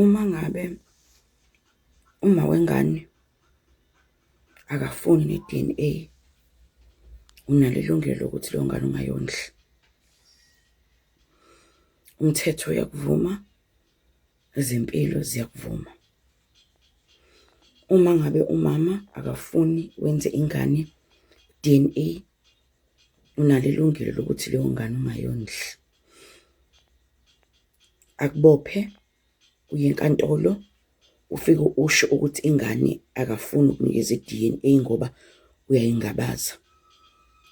Uma ngabe umama wengane akafuni ne-D_N_A, unalo ilungelo lokuthi leyo ngane ungayondli. Umthetho uyakuvuma, ezempilo ziyakuvuma. Uma ngabe umama akafuni wenze ingane i-D_N_A, unalo ilungelo lokuthi leyo ngane ungayondli. akubophe uye enkantolo ufike usho ukuthi ingane akafuni ukunikeza i-D_N_A ngoba uyayingabaza.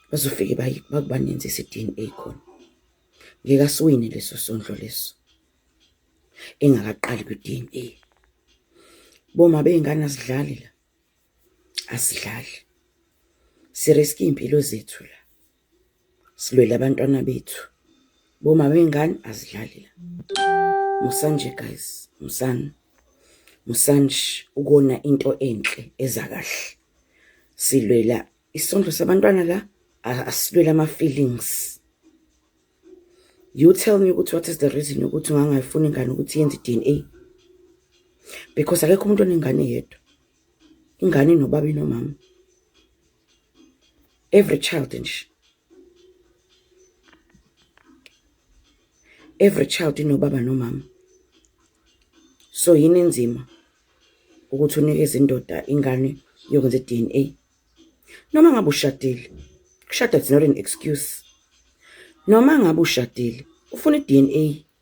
Bazofike bakubanenzise i-D_N_A khona. Ngeke asiwine leso sondlo leso engakaqali kwi-D_N_A. Boma bey'ngane asidlali la, asidlali si-risk-a iy'mpilo zethu la. silwele abantwana bethu boma bengane azidlali la musanje guys musani musanje ukona into enhle eza kahle silwela isondlo sabantwana la asilwela ama-feelings you tell me ukuthi what is the reason yokuthi ungangayifuni ingane ukuthi yenze i-d n a because akekho umuntu onengane yedwa ingane nobaba inomama every child nje every child inobaba nomama so yini inzima ukuthi unikeze indoda ingane yokwenza i-DNA noma ngabe ushadile kushada it's not an excuse noma ngabe ushadile ufuna i-DNA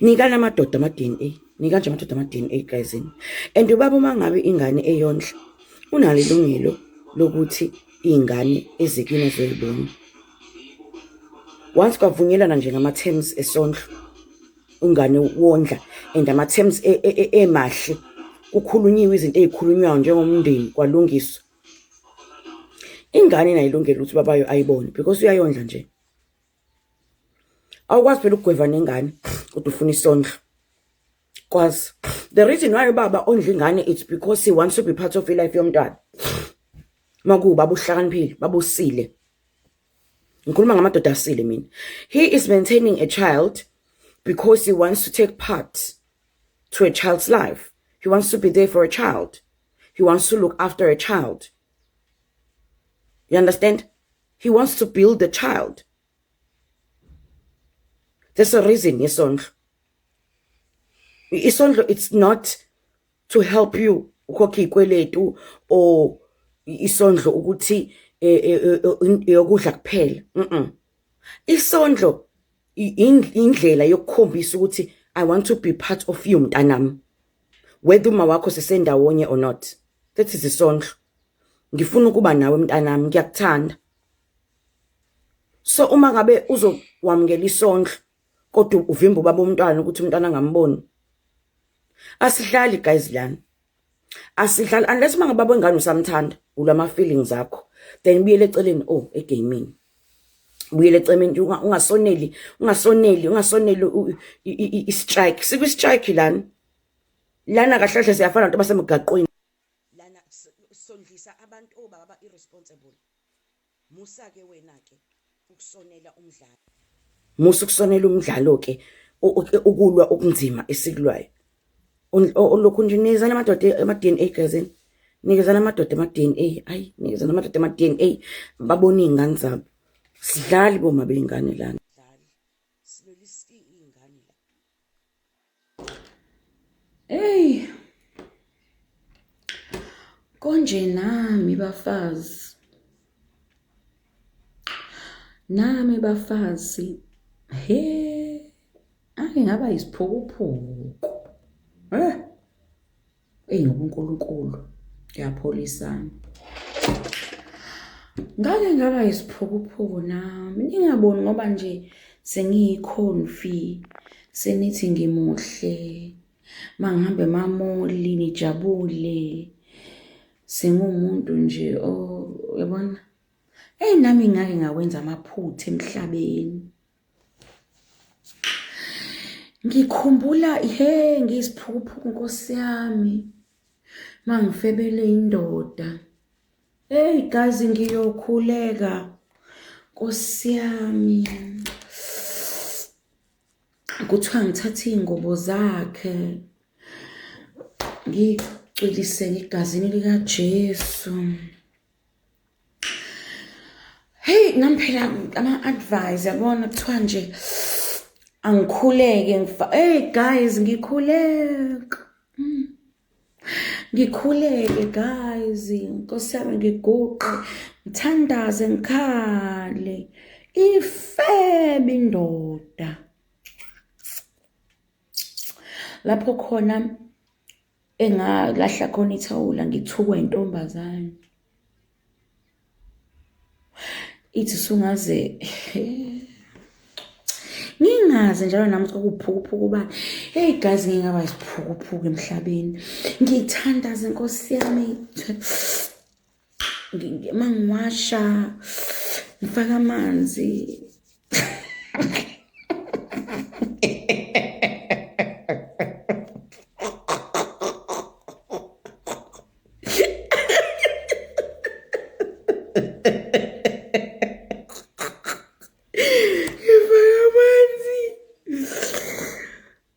Nikana amadoda ama DNA. Nika nje amadoda ama DNA guys. And ubaba uma ngabe ingane eyondla unalo ilungelo lokuthi ingane ezikini zoyibona. Once kwavunyelana nje ngama terms esondlo ungane wondla and ama terms e, e, e, emahle kukhulunyiwe izinto ezikhulunywayo njengomndeni kwalungiswa. Ingane inayilungelo ukuthi babayo ayibone because uyayondla nje. awukwazi phela ukugweva nengane kodwa ufuna isondlo kwazi the reason why ubaba ondla ingane it's because he wants to be part of ilife yomntwana makuba buhlakaniphile babusile ngikhuluma ngamadoda asile mina he is maintaining a child because he wants to take part to a child's life he wants to be there for a child he wants to look after a child you understand he wants to build the child there's a reason yesondlo isondlo it's not to help you ukhokhe ikweletu or isondlo ukuthi eh, eh, eh, yokudla kuphela mhm isondlo indlela yokukhombisa ukuthi i want to be part of you mntanami whether uma wakho sisendawonye or not that is isondlo ngifuna ukuba nawe mntanami ngiyakuthanda so uma ngabe uzokwamukela isondlo kodwa uvimba ubaba umntwana ukuthi umntwana angamboni asihlali guys lana asihlali unless uma ngababa wengane usamthanda ulama feelings akho then buyele eceleni oh egaming buyele ecemeni ungasoneli ungasoneli ungasoneli i-strike sikwi-strike lana lana kahlahle siyafana nabantu basemgaqweni Lana sondlisa abantu o baba ba irresponsible musa ke wena ke ukusonela umdlalo. Musa ukusonela umdlalo ke ukulwa okunzima esikulwayo. Olokhu nje nikezana amadoda ama DNA gazini. Nikezana amadoda ama DNA. Hayi nikezana amadoda ama DNA babone izingane zabo. Sidlali boma beyingane lana. Hey. Konje nami bafazi. Nami bafazi. He. Ake ngaba isiphukuphuku. Eh. Eyi ngoba uNkulunkulu uyapholisana. Ngake ngaba yisiphukuphuku nami ningaboni ngoba nje sengiyikhonfi senithi ngimuhle mangihambe mamoli nijabule sengumuntu nje uyabona eyi nami ngake ngakwenza amaphutha emhlabeni. ngikhumbula he ngiyisiphukuphuku nkosi yami mangifebele indoda hey gazi ngiyokhuleka nkosi yami kuthiwa ngithathe iy'ngubo zakhe ngicwiliseke egazini likajesu heyi nami phela ama-advise yabona kuthiwa nje angikhuleke eyi guys ngikhuleka mm. ngikhuleke guys nkosi yami ngiguqe ngithandaze ngikhale ifebe indoda lapho khona engalahla khona ithawula ngithukwa intombazane ithi sungaze ngingazi njalo nami ukuthi kwakuphukuphuku ubani eyi gazi ngingaba isiphukuphuku emhlabeni ngithandaze nkosi yami uma ngiwasha ngifaka amanzi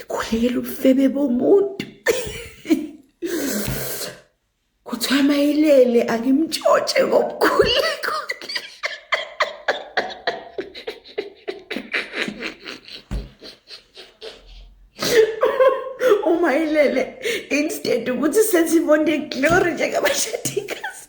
ikhulekela ubufebe bomuntu kuthiwa mayilele angimtshotshe ngomkhuleko uma ilele instead ukuthi senze imonde glory njengabashadikazi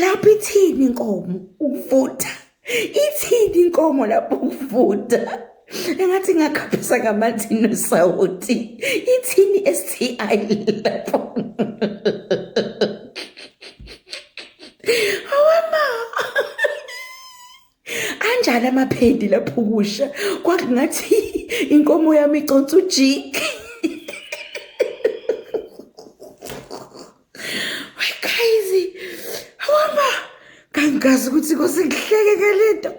lapho ithini inkomo ukuvuda ithini inkomo lapho ukuvuda engathi ngakhaphisa ngamanzi nosawoti ithini sti lapho anjalo amaphedi lapho kusha kwakungathi inkomo yami iconsa ujiki we guys hamba kangazi ukuthi kosekuhleke ngalento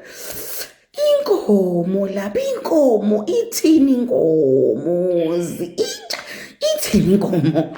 inkomo lapha inkomo ithini inkomo inja ithini inkomo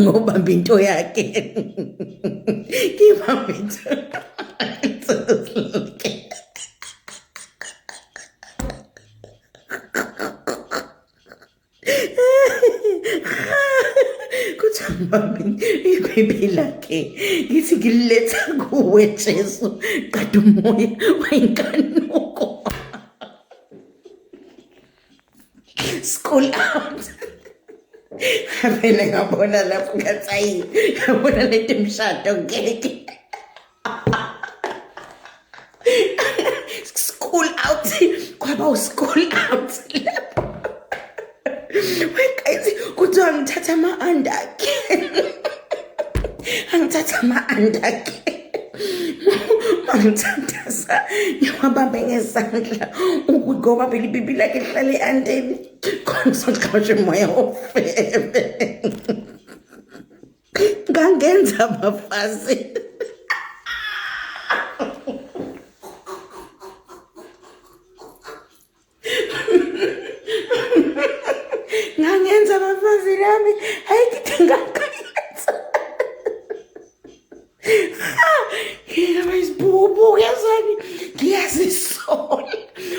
ngobamba into yakhe ngibamba into mami iphephe lakhe ngithi ngililetha kuwe jesu qeda umoya wayinkanuko school out ngavele ngabona lapho ngathi ayi ngabona lento imshado ngeke school out kwaba uschool out lapho wekayithi kuthiwa ngithatha ama-andakhe angithatha ama-andakhe Mamthandaza ngiwabambe ngezandla ngoba phela ipipi lakhe lihlale ehandeni khona soxhashe umoya ofebe ngangenza abafazi ngangenza abafazi lami hayi ngithi ngakwenza ngingaba isibubu yazani ngiyazisola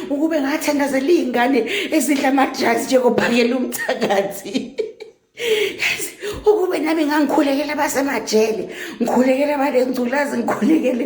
ukube ngathandazela iy'ngane ezidla amadrazi njengophakela umthakathi ukube nami ngangikhulekela basemajele ngikhulekela balengculazi ngikhulekele